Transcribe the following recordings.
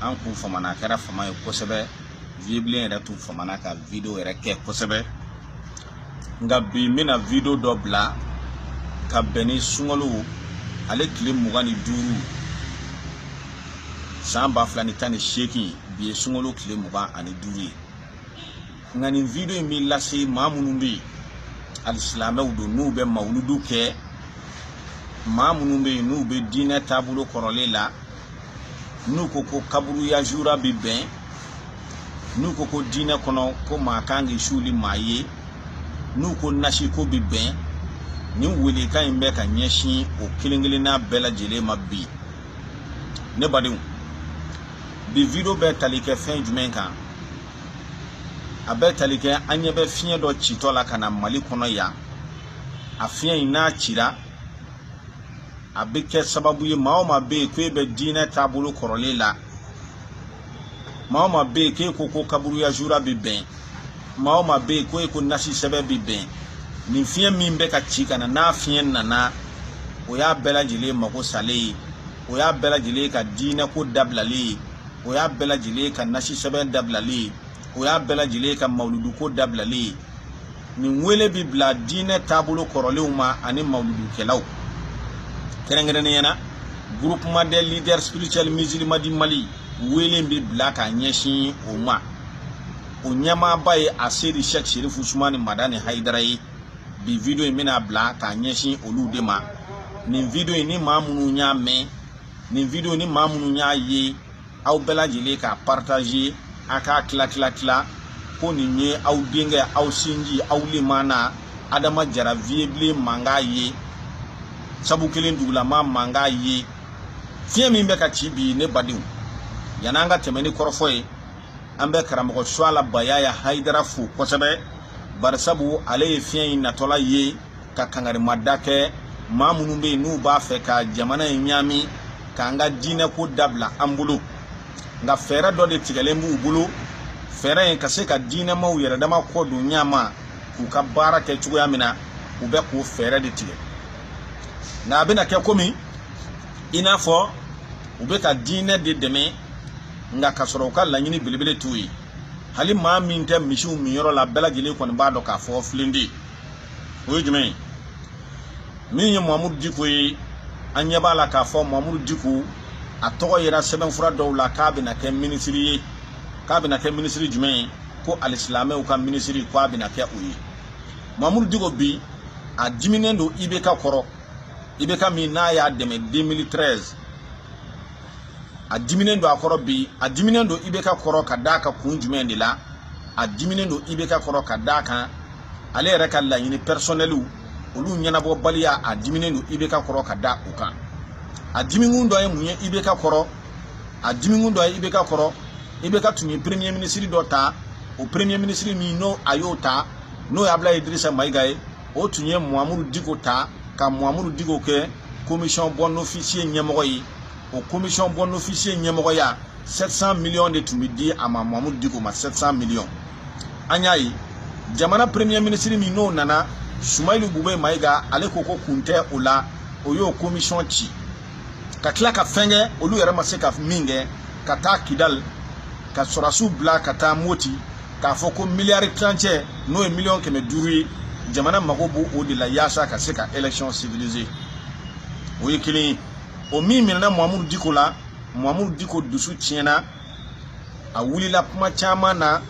an kun famana a kɛra fama ye kosɛbɛ viyebilen yɛrɛ tun famana ka video yɛrɛ kɛ kosɛbɛ nka bi n bɛna video dɔ bila ka bɛn ni sunkalo ale tile mugan ni duuru san ba fila ni tan ni seegin bi ye sunkalo tile mugan ani duuru ye nka nin video in bɛ lase maa minnu bɛ yen alisilamɛw don n'u bɛ mawuludu kɛ maa minnu bɛ yen n'u bɛ diinɛ taabolo kɔrɔlen la n'u ko ko kaburuya jura bɛ bɛn n'u ko ko diinɛ kɔnɔ ko maa kan k'i suuli maa ye n'u ko nasiko bɛ bɛn nin welekan in bɛ ka ɲɛsin o kelen kelenna bɛɛ lajɛlen ma bi ne badenw bi video bɛ tali kɛ fɛn jumɛn kan a bɛ tali kɛ an ɲɛ bɛ fiɲɛ dɔ citɔ la ka na mali kɔnɔ yan a fiɲɛ in n'a cira a bɛ kɛ sababu ye maa o maa bɛ yen ko e bɛ diinɛ taabolo kɔrɔlen la maa o maa bɛ yen k'e ko ko kaburuya zura bɛ bɛn maa o maa bɛ yen ko e ko nasi sɛbɛn bɛ bɛn nin fiɲɛ min bɛ ka ci ka na n'a fiɲɛ nana o y'a bɛɛ lajɛlen mago salen ye o y'a bɛɛ lajɛlen ka diinɛko dabilalen ye o y'a bɛɛ lajɛlen ka nasi sɛbɛn dabilalen ye o y'a bɛɛ lajɛlen ka mawuluduko dabilalen ye nin wele bɛ bila diinɛ taabolo kɔrɔlenw ma ani mawuludukɛlaw kɛrɛnkɛrɛnnenya na groupement des leaders spirituels musulmans du Mali wele bɛ bila ka ɲɛsin o ma o ɲɛmaaba ye asedi sɛk serifu usumani madani hayidara ye bi video in bɛna bila k'a ɲɛsin olu de ma nin video in ni maa minnu y'a mɛn nin video in ni maa minnu y'a ye aw bɛɛ lajɛlen k'a partager a k'a tila tila tila ko nin ye aw denkɛ aw sinji aw lemana adama jara viyebilen mankan ye sabu kelen dugulama mankan ye fiɲɛ min bɛ ka ci bi ne badenw yanni an ka tɛmɛ ni kɔrɔfɔ ye an bɛ karamɔgɔ suwala bayaya haidara fo kosɛbɛ barisabu ale ye fiɲɛ in natɔla ye ka kangarimada kɛ maa minnu bɛ yen n'u b'a fɛ ka jamana in ɲaami k'an ka diinɛko dabila an bolo nka fɛɛrɛ dɔ de tigɛlen b'u bolo fɛɛrɛ in ka se ka diinɛmaw yɛrɛ dama kɔ don ɲama k'u ka baara kɛ cogoya min na u bɛ k'o fɛɛrɛ de tigɛ nka a bɛna kɛ komi i n'a fɔ u bɛ ka diinɛ de dɛmɛ nka ka sɔrɔ u ka laɲini belebele t'o ye hali maa min tɛ misiw minyɔrɔ la bɛɛ lajɛlen kɔni b'a dɔn k'a fɔ filen tɛ o ye jumɛn ye min ye mamudu diko ye an ɲɛ b'a la k'a fɔ mamudu diko a tɔgɔ yera sɛbɛnfura dɔw la k'a bɛna kɛ minisiri ye k'a bɛna kɛ minisiri jumɛn ye ko alisilamɛw ka minisiri ko a bɛna kɛ o ye mamudu diko bi a diminen don ibk kɔrɔ ibk min n'a y'a dɛmɛ 2013 a diminen don a kɔrɔ bi a diminen don IBK kɔrɔ ka d'a kan kun jumɛn de la a diminen don IBK kɔrɔ ka d'a kan ale yɛrɛ ka laɲini pɛrisɔnɛliw olu ɲɛnabɔbaliya a diminen don IBK kɔrɔ ka da o kan a dimikun dɔ ye mun ye IBK kɔrɔ a dimikun dɔ ye IBK kɔrɔ IBK tun ye premier minisiri dɔ ta o premier minisiri min n'a y'o ta n'o ye abulayi idirisa mayiga ye o tun ye mahamudu diko ta ka mahamudu diko kɛ komisɔn bɔn ofisiye ɲɛmɔgɔ ye o komisɔn bɔn ofisiye ɲɛmɔgɔya 700 miliyɔn de tun bɛ di a ma mahamudu diko ma 700 miliyɔn an y'a ye jamana premier minisiri min n'o nana sumayilu bube mayiga ale ko ko kun tɛ o la o y'o komisɔn ci ka tila ka fɛn kɛ olu yɛrɛ ma se ka min kɛ ka taa kidali ka sɔrɔdasiw bila ka taa mɔti k'a fɔ ko miliyari tilancɛ n'o ye miliyɔn kɛmɛ duuru ye jamana mago b'o de la yaasa ka se ka election securiser o ye kelen ye o min minɛna mamudu diko la mamudu diko dusu tiɲɛna a wulila kuma caman na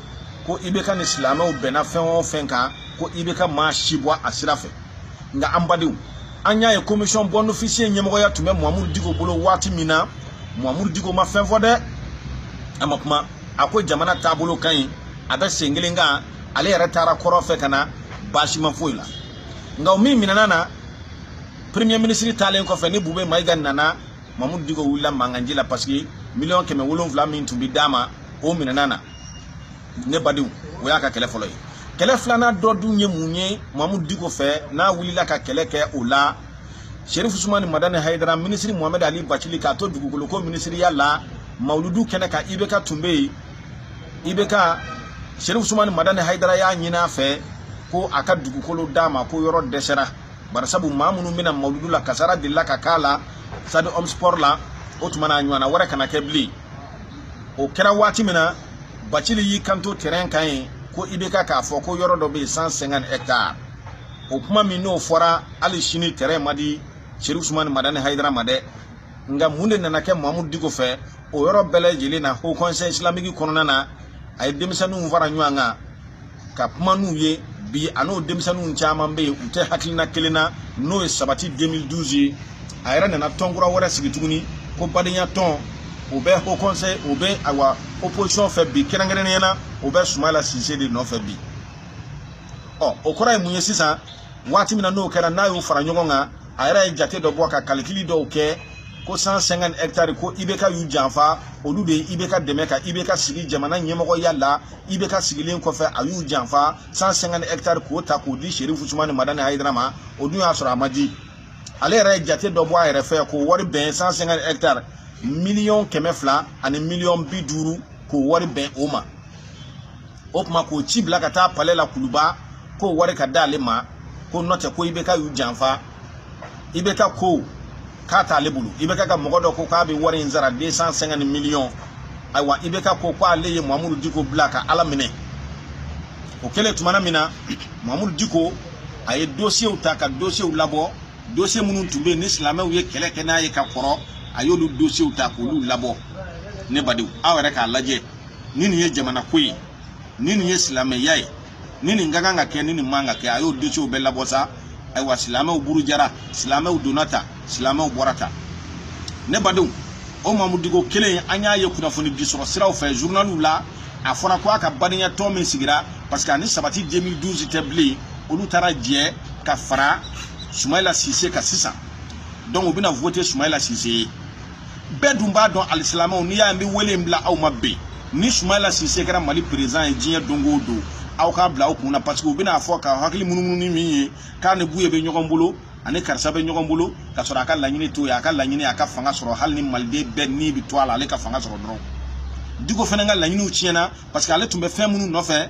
ko IBK ni silamɛw bɛnna fɛn o fɛn kan ko IBK ma si bɔ a sira fɛ nka an badenw an y'a ye komisɔn bɔn ofisiye ɲɛmɔgɔya tun bɛ mamudu diko bolo waati min na mamudu diko ma fɛn fɔ dɛ a ma kuma a ko jamana taabolo ka ɲi a bɛ sen kelen kan ale yɛrɛ taara kɔrɔn fɛ ka na baasi ma foyi la nka o min minɛna na premier ministre taalen kɔfɛ ni bube mayiga nana mamudu diko wulila mankanci la parce que miliyɔn kɛmɛ wolonwula min tun bɛ d'a ma o minɛna na ne badenw o y'a ka kɛlɛ fɔlɔ ye kɛlɛ filanan dɔ dun ye mun ye mamudu diko fɛ n'a wulila ka kɛlɛ kɛ o la Sherif Usumani Madani Hayidara minisiri Mohamed Ali Bacili k'a to dugukolo ko minisiriya la Mawuludu kɛnɛ kan IBK tun bɛ yen IBK Sherif Usumani Madani Hayidara y'a ɲini a fɛ ko a ka dugukolo d'a ma ko yɔrɔ dɛsɛra barisabu maa minnu bɛ na Mawuludu la kasara delila ka k'a la stade Omnisport la o tuma na a ɲɔgɔnna wɛrɛ kana kɛ bilen o kɛra waati min na Bacili y'i kanto terrain kan yen ko IBK k'a fɔ ko yɔrɔ dɔ bɛ yen 150 hectares o kuma min n'o fɔra hali sini tɛrɛn ma di sherifu usumani madani hayidara ma dɛ nka mun de nana kɛ mahamudu diko fɛ o yɔrɔ bɛɛ lajɛlen na ho kɔnsɛyi isilamiki kɔnɔna na a ye denmisɛnninw fara ɲɔgɔn kan ka kuma n'u ye bi a n'o denmisɛnninw caman bɛ yen u tɛ hakilina kelen na n'o ye sabati 2012 ye a yɛrɛ nana tɔn kura wɛrɛ sigi tuguni ko badenya tɔn o bɛ ho kɔnsɛyi o bɛ ayiwa opposition fɛ bi kɛrɛnkɛrɛnnenya na o bɛ sumayila sise de nɔfɛ bi ɔ o kɔrɔ ye mun ye sisan waati min na n'o kɛra n'a y'o fara ɲɔgɔn kan a yɛrɛ ye jate dɔ bɔ ka kalikili dɔw kɛ ko 150 hectares ko ibk y'u janfa olu de ye ibk dɛmɛ ka ibk sigi jamana ɲɛmɔgɔya la ibk sigilen kɔfɛ a y'u janfa 150 hectares k'o ta k'o di serifu usumani madani hayidara ma o dun y'a sɔrɔ a ma di ale yɛrɛ ye jate dɔ bɔ a yɛrɛ fɛ k'o wari bɛn 150 hectares miliyɔn kɛmɛ fila ani miliyɔn bi duuru k'o wari bɛn o ma o tuma k'o ci bila ka taa palɛ la kuluba k'o wari ka d'ale ma ko nɔntɛ ko ibk y'u janfa ibk ko k'a t'ale bolo ibk ka mɔgɔ dɔ ko k'a bɛ wari in sara deux cent cinquante miliyɔn ayiwa ibk ko ko ale ye mamudu diko bila ka ala minɛ o kɛlen tumana min na mamudu diko a ye dosiyew ta ka dosiyew labɔ dosiye minnu tun bɛ yen ni silamɛw ye kɛlɛ kɛ n'a ye ka kɔrɔ a y'olu dosiyew ta k'olu labɔ ne badenw aw yɛrɛ k'a lajɛ ni nin ye jamana ko ye ni nin ye silamɛya ye ni nin ka kan ka kɛ ni nin man ka kɛ a y'o dosiyew bɛɛ labɔ sa ayiwa silamɛw burujara silamɛw donna tan silamɛw bɔra tan ne badenw o mamudu diko kelen an y'a ye kunnafoni di sɔrɔ siraw fɛ journaliw la a fɔra ko a ka badenya tɔn min sigira parce que a ni sabati 2012 tɛ bilen olu taara jɛ ka fara sumayila sise kan sisan donc u bɛna vote sumayila sise ye bɛɛ dun b'a dɔn alisilamɛw n'i y'a ye n bɛ wele in bila aw ma bi ni sumayila sise kɛra mali perezidan ye diɲɛ don o don aw k'a bila aw kun na paseke u bɛna a fɔ ka hakili munumunu min ye k'a ni buye bɛ ɲɔgɔn bolo ani karisa bɛ ɲɔgɔn bolo ka sɔrɔ a ka laɲini t'o ye a ka laɲini a ka fanga sɔrɔ hali ni maliden bɛɛ ni bɛ to a la ale ka fanga sɔrɔ dɔrɔn diko fana ka laɲiniw tiɲɛna parce que ale tun bɛ fɛn minnu nɔfɛ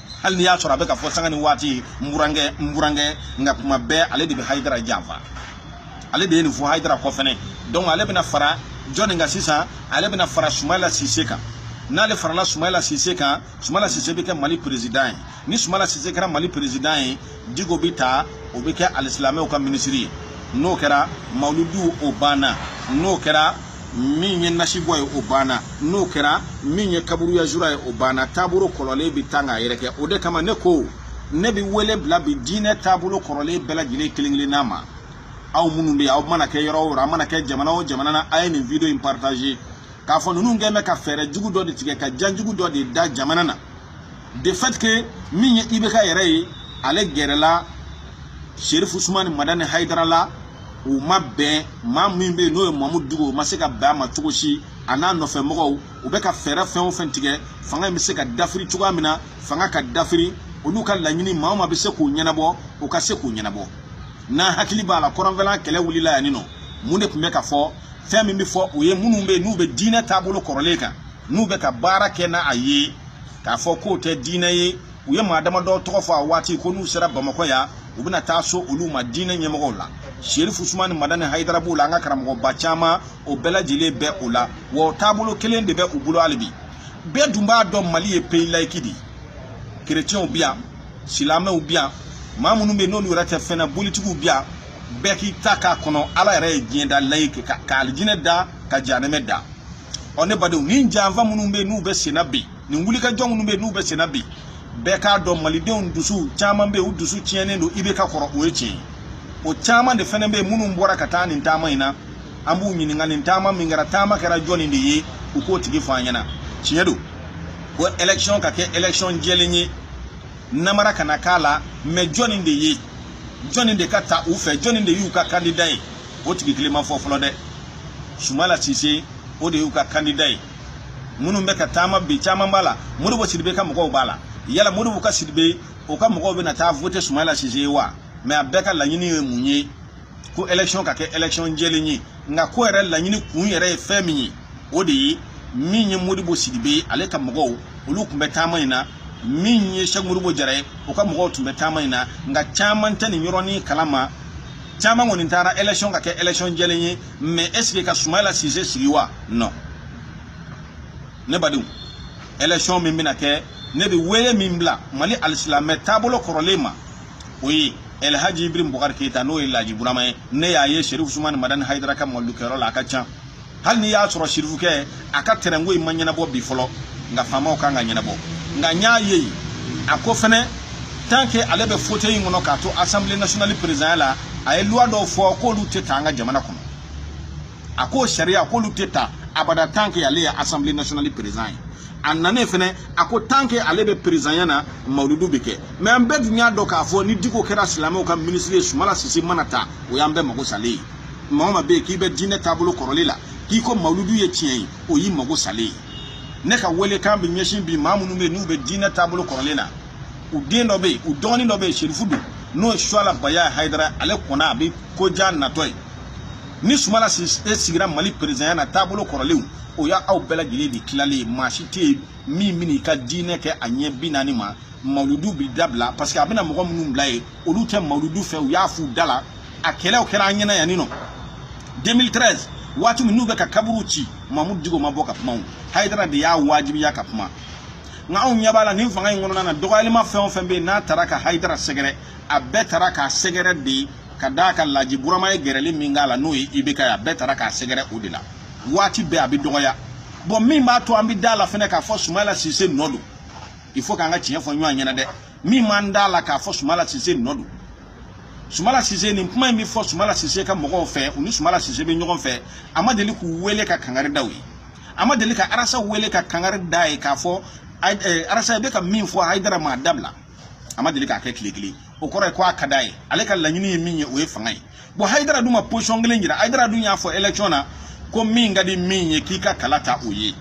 hali n'i y'a sɔrɔ a bɛ ka fɔ sanga ni waati n burankɛ n burankɛ nka kuma bɛɛ ale de bɛ hayidara janfa ale de ye nin fɔ hayidara kɔ fɛnɛ donc ale bɛna fara jɔni kan sisan ale bɛna fara sumayila sise kan n'ale farala sumayila sise kan sumayila sise bɛ kɛ mali perezidan ye ni sumayila sise kɛra mali perezidan ye diko bɛ ta o bɛ kɛ alisilamɛw ka minisiri ye n'o kɛra mawuludu o banna n'o kɛra min ye nasibɔ ye o banna n'o kɛra min ye kaburuya zura ye o banna taabolo kɔrɔlen bɛ ta k'a yɛrɛkɛ o de kama ne ko ne bɛ wele bila bi diinɛ taabolo kɔrɔlen bɛɛ lajɛlen kelen kelenna ma aw minnu bɛ yen aw mana kɛ yɔrɔ o yɔrɔ a mana kɛ jamana o jamana na a ye nin video in partage k'a fɔ ninnu kɛ bɛ ka fɛɛrɛ jugu dɔ de tigɛ ka jan jugu dɔ de da jamana na de fait que min ye ibk yɛrɛ ye ale gɛrɛla sherifu usumani madani hayidara la u ma bɛn maa min bɛ yen n'o ye mamudu diko o ma se ka bɛn a ma cogo si a n'a nɔfɛ mɔgɔw u bɛ ka fɛɛrɛ fɛn o fɛn tigɛ fanga in bɛ se ka dafiri cogoya min na fanga ka dafiri olu ka laɲini maa o maa bɛ se k'u ɲɛnabɔ o ka se k'u ɲɛnabɔ n'an hakili b'a la kɔrɔnfɛla kɛlɛ wulila yan nin nɔ mun de tun bɛ ka fɔ fɛn min bɛ fɔ o ye minnu bɛ yen n'u bɛ diinɛ taabolo kɔrɔlen kan n'u bɛ ka baara kɛ n'a ye k'a fɔ k'o tɛ diinɛ ye u ye maa damadɔ tɔgɔ fɔ a waati ko n'u sera bamakɔ yan u bɛna taa s'olu ma diinɛ ɲɛmɔgɔw la serifu usumani madani hayidara b'o la an ka karamɔgɔba caman o bɛɛ lajɛlen bɛ o la wa o taabolo kelen de bɛ u bolo hali bi bɛɛ dun b'a dɔn mali ye peyi layiki de ye kerecɛnw bi yan silamɛw bi yan maa minnu bɛ yen n'olu yɛrɛ tɛ fɛn na bolitigiw bi yan bɛɛ k'i ta k'a kɔnɔ ala yɛrɛ ye diɲɛ da layiki ka alijinɛ da ka janɛmɛ da ɔ ne badenw nin janfa minnu bɛ yen n'u bɛ senna bi nin wulikajɔ minnu bɛ yen n'u bɛ senna bi bɛɛ k'a dɔn malidenw dusu caman bɛ yen u dusu tiɲɛnen don ibk kɔrɔ o ye tiɲɛ ye o caman de fana bɛ yen minnu bɔra ka taa nin taama in na an b'u ɲininka nin taama min kɛra taama kɛra jɔnni de ye u k'o tigi fɔ an ɲɛna tiɲɛ don ko ɛlɛkisiyɔn ka kɛ ɛlɛkisiyɔn jɛlen ye namara kana k'a la mɛ jɔnni de ye jɔnni de ka ta u fɛ jɔnni de y'u ka kandida ye o tigi kelen ma fɔ fɔlɔ dɛ sumala sise o de y'u ka kandida ye minnu bɛ ka taama bi caman b'a la modibo sidibe ka mɔgɔw b'a la yala modibo ka sidibe o ka mɔgɔw bɛna taa vote sumala sise ye wa mɛ a bɛɛ ka laɲini ye mun ye ko election ka kɛ election jɛlen ye nka ko yɛrɛ laɲini kun yɛrɛ ye fɛn min ye o de ye min ye modibo sidibe ale ka mɔgɔw olu tun bɛ taama in na min ye sɛk modibo jara ye o ka mɔgɔw tun bɛ taama in na nka caman tɛ nin yɔrɔnin kalama caman kɔni taara election ka kɛ election jɛlen ye mais est ce que ka sumayila sise sigi wa non ne badenw election min bɛna kɛ ne bɛ wele min bila mali alisilamɛya taabolo kɔrɔlen ma o ye elhaji ibrahim bubakari keyita n'o ye laji burama ye ne y'a ye sherif usumani madani hayidara ka mawuludukɛyɔrɔ la a ka ca hali n'i y'a sɔrɔ sirifukɛ a ka tɛrɛnko in ma ɲɛnabɔ bi fɔlɔ nka faamaw ka kan k'a ɲɛnabɔ nka n y'a ye a ko fɛnɛ tant que ale bɛ fauteuil in kɔnɔ k'a to assemblée nationale présidentya la a ye loi dɔw fɔ k'olu tɛ ta an ka jamana kɔnɔ a ko sariya k'olu tɛ ta abada tant que ale ye assemblée nationale président ye a nanen fɛnɛ a ko tant que ale bɛ présidentya na mawuludu bɛ kɛ mais an bɛɛ dun y'a dɔn k'a fɔ ni diko kɛra silamɛw ka minisiri ye sumala sise mana ta o y'an bɛɛ mago salen ye maa o maa bɛ yen k'i bɛ diinɛ taabolo kɔrɔlen la k'i ko mawuludu ye tiɲɛ ye o y'i mago salen ye ne ka welekan bɛ ɲɛsin bi maa minnu bɛ yen n'u bɛ diinɛ taabolo kɔrɔlen na u den dɔ bɛ yen u dɔgɔnin dɔ bɛ yen serifu don n'o ye suwala bayaya hayidara ale kɔni a bɛ ko ja natɔ ye ni sumala sigira mali perezanya na taabolo kɔrɔlenw o y'aw bɛɛ lajɛlen de tilalen ye maa si tɛ yen min bɛna i ka diinɛ kɛ a ɲɛ bi naani ma mawuludu bɛ dabila parce que a bɛna mɔgɔ minnu bila yen olu tɛ mawuludu fɛ u y'a f'u da la a kɛlɛw kɛra an ɲɛna yan nin nɔ 2013 waati min n'u bɛ ka kaburu ci mamudu diko ma bɔ ka kuma o hayidara de y'a wajibiya ka kuma nka anw ɲɛ b'a la nin fanga in kɔnɔna na dɔgɔyali maa fɛn o fɛn bɛ yen n'a taara ka hayidara sɛgɛrɛ a bɛɛ taara k'a sɛgɛrɛ de ka d'a kan laji burama ye gɛrɛli min k'a la n'o ye ibk ye a bɛɛ taara k'a sɛgɛrɛ o de la waati bɛɛ a bɛ dɔgɔya bon min b'a to an bɛ d'a la fɛnɛ k'a fɔ sumala sise nɔ don il faut k'an ka tiɲɛ fɔ ɲɔgɔn ɲɛna dɛ min m'an da la k'a fɔ sumala sise nɔ don sumala sise nin kuma in bɛ fɔ sumala sise ka mɔgɔw fɛ u ni sumala sise bɛ ɲɔgɔn fɛ a ma deli k'u wele ka kangari da u ye a ma deli ka arasa wele ka kangari d'a ye k'a fɔ eh, arasa i bɛ ka min fɔ hayidara ma a dabila a ma deli k'a kɛ tile kelen o kɔrɔ ye ko a ka d'a ye ale ka laɲini ye min ye o ye fanga ye bon hayidara dun ma position kelen jira hayidara dun y'a fɔ election na ko min ka di min ye k'i ka kala ta o ye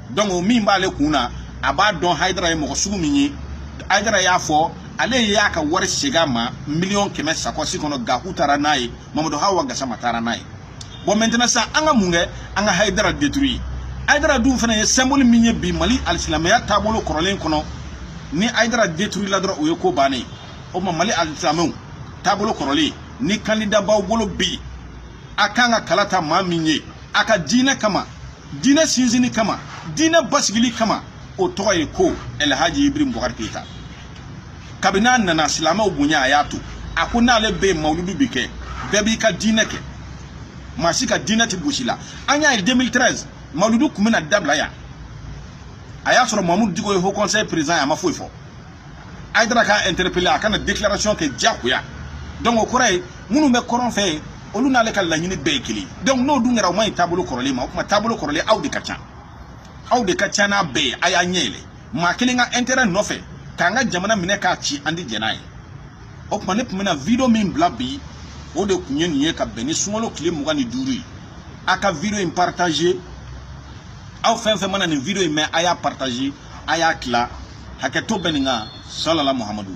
donc o min b'ale kun na a b'a dɔn hayidara ye mɔgɔ sugu min ye hayidara y'a fɔ ale y'a ka wari segin a ma miliyɔn kɛmɛ sakɔsi kɔnɔ gaku taara n'a ye mamadu hawa gasama taara n'a ye bon maintenant sisan an ka mun kɛ an ka hayidara détruire hayidara dun fana ye symbole min ye bi mali alisilamɛya taabolo kɔrɔlen kɔnɔ ni hayidara détruire la dɔrɔn o ye ko bannen ye o tuma mali alisilamɛw taabolo kɔrɔlen ni kandida b'aw bolo bi a ka kan ka kala ta maa min ye a ka diinɛ kama diinɛ sinsinni kama diinɛ basigili kama o tɔgɔ ye ko elhaji ibrahim bubakari keyita kabini a nana silamɛw bonya a y'a to a ko n'ale bɛ yen mawuludu bɛ kɛ bɛɛ b'i ka diinɛ kɛ maa si ka diinɛ tɛ gosi la an y'a ye 2013 mawuludu tun bɛna dabila yan a y'a sɔrɔ mamudu diko ye haut conseil président ye a ma foyi fɔ hayidara k'a interpellé a ka na déclaration kɛ diyagoya donc o kɔrɔ ye minnu bɛ kɔrɔn fɛ olu n'ale ka laɲini bɛɛ ye kelen donc n'o dun kɛra o ma ɲi taabolo kɔrɔlen ma o tuma taabolo kɔrɔlen aw de ka ca aw de ka ca n'a bɛɛ ye a y'a ɲɛ yɛlɛ maa kelen ka intérêt nɔfɛ k'an ka jamana minɛ k'a ci an tɛ jɛn n'a ye o tuma ne tun bɛna video min bila bi o de tun ye nin ye ka bɛn ni sunkalo tile mugan ni duuru ye a ka video in partager aw fɛn fɛn mana nin video in mɛn a y'a partager a y'a tila hakɛto bɛ nin kan salala muhamadu